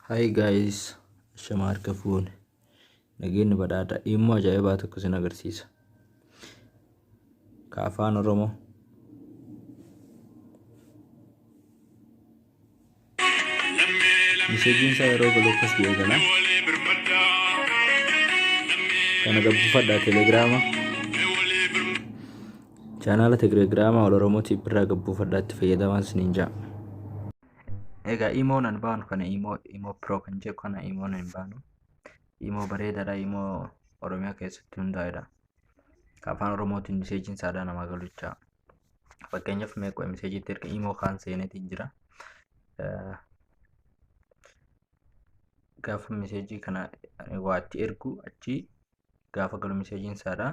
Hi guys, shama harka fuune. Nageenyi badhaadha. Immoo ajaa'ibaa tokko isin agarsiisa. Ka afaan Oromoo. Miseejiin isaa yeroo galu akkas jedhee gala. Kana gabbifadhaa telegiraama. Chaanaala telegiraama ol Oromootiif birraa gabbifadhaa itti fayyadamaa isiniin ja'a. Egaa imoo nan baanu kana imoo imoo pro kan jedhu kana imoo nan baanu imoo bareedaadha imoo oromiyaa keessatti hundaa'edha Ka afaan oromootiin miseejiin saadaa namaa galuchaa fakkeenyaaf meeqo miseejiitti erga imoo kaan seenetiin jira Eh, gaafa miseejii kana waa itti ergu achi gaafa galu miseejiin saadaa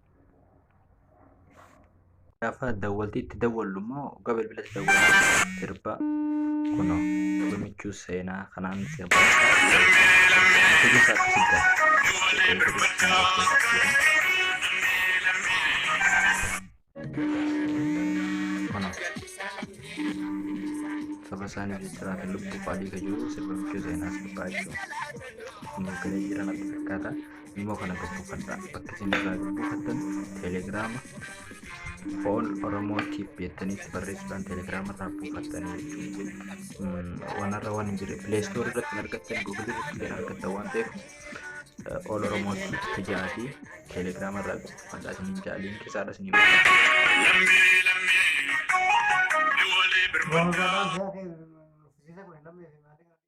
gaafa dawwalti itti dawwallu immoo dhugaa bilbila itti dawwallu sirba kuno himichuu seenaa kanaan sirba saba isaanii jechaa kan lubbuu fa'aa dhiiga jiru sirba michuu seenaa sirbaa jechuudha. Kun eegalee jira natti fakkaata. Imo kana gad buufadha. Bakka isin irraa gad buufattan telegiraama all oromoo tip jettanitti barreessuudhaan telegiraama irraa buufattanii jechuudha. Wanarra waan hin jirre play store irratti hin argattan google irratti illee argattan waan ta'eef eh, all oromoo tip tajaati telegiraama irraa gad buufadha isin hin jaaliin keessaadha isin hin Roobaa isaa ta'e nuffisiisa kun hin lammeessi.